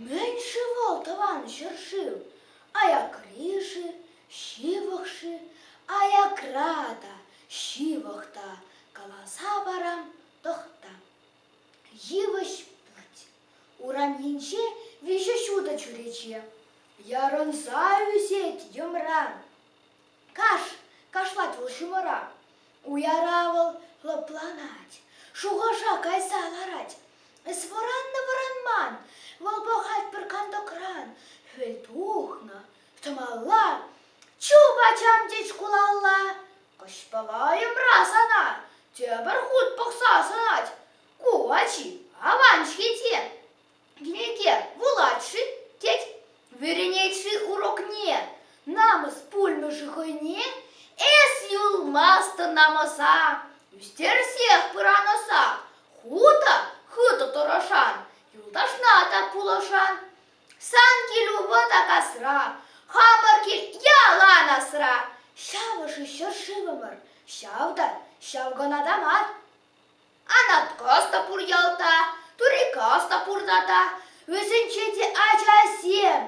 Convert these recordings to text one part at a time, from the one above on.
Мӗн-ши вӑл тӑван ҫӗршыв? Аякри-ши, ҫывӑх-ши? Аякра та, ҫывӑх та каласа парам тӑхта. Йывӑҫ путь, уранӗнче виҫӗ ҫутӑ чӳрече, ярӑнса ӳсет йӑмран. Каш! кашлать вӑл ҫумӑра. Уяра вӑл лӑпланать, шухӑша кайса ларать. Эс вӑраннӑ-вӑранман, вӑл пӑхать пӗр кантокран. Хӗл тухнӑ, тӑмалла, чуп ачам тет шкулалла. Кӑҫпалайӑмра сана тепӗр хут пӑхса сӑнать. Ку ачи аван-ҫке те. Глеке вулать-ши? тет. Вӗренет-ши урокне? Намӑс пулмӗ-ши хӑйне? Эс юлмастӑн намӑса, ӳстерсех пыранӑсах. Хутӑ хытӑ тӑрӑшан, юлташна та пулӑшан. Сан кил вӑта касра, хамӑр кил ялан асра. Ҫавӑ-ши ҫӗршывӑмӑр, ҫав та ҫав кӑна та мар. Анаткас та пур ялта, Турикас та пурта та. Вӗсенче те ачасем,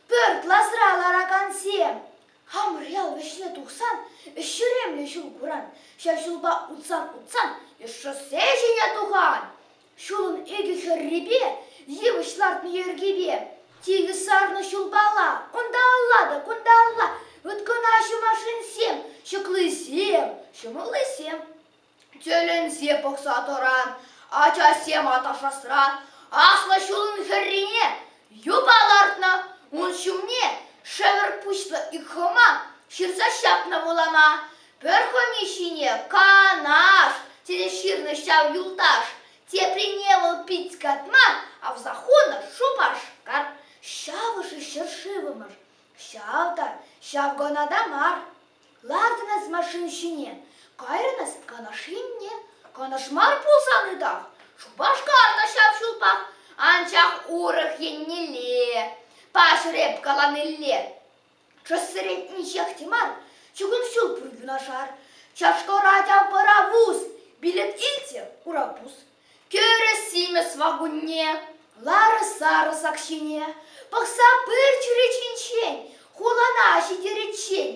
пӗр класра ларакансем. Хамрел вӗҫне тухсан ӗҫ ҫӳремлӗ ҫул куран. Ҫав ҫулпа утсан-утсан шоссе ҫине тухан. Ҫулӑн икӗ хӗррипе, йывӑҫ лартнӑ йӗркипе. Тикӗс сарнӑ ҫулпала, унталла та кунталла. Ыткӑнаҫҫӗ машинсем, ҫӑклисем, ҫӑмӑллисем. Тӗлӗнсе пӑхса тӑран ачасем аташасран аслӑ ҫулӑн хӗррине юпа лартнӑ, ун ҫумне шӗвӗр пуҫлӑ ик хӑма ҫырса ҫапнӑ вулама. Пӗр хӑми ҫине канаш тесе ҫырнӑ ҫав юлташ, теприне вӑл пит катма, авса хунӑ Шупашкар. Ҫавӑ-ши ҫӗршывӑмӑр? Ҫав та, ҫав гана та мар. Лартӑнас машина ҫине, кайрӑнас канаш енне. Канаш мар пулсан ытах, Шупашкар та ҫав ҫулпах, анчах урӑх еннелле, паҫӑр эп каланилле. Чӑсрен инҫех те мар, чугун ҫул пур юнашар. Чашторать ав пӑравус, билет илчӗ Курапус. Кӗрӗс симӗс вакунне, ларӑс-сарӑсак ҫине пӑхса пыр чӳречинчен, хулана ҫитериччен.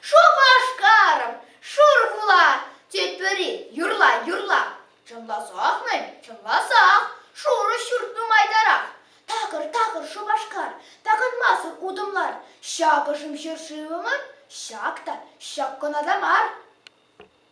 Шупашкарӑм, шур хула, тет пӗри юрла-юрла. Чӑнласах-мӗн, чӑнласах, шурӑ ҫурт нумайтарах. Такӑр-такӑр Шупашкар, такӑнмасӑр утӑм лар. Ҫакӑшӑм ҫӗршывӑмӑр, ҫак та, ҫак кӑна та мар.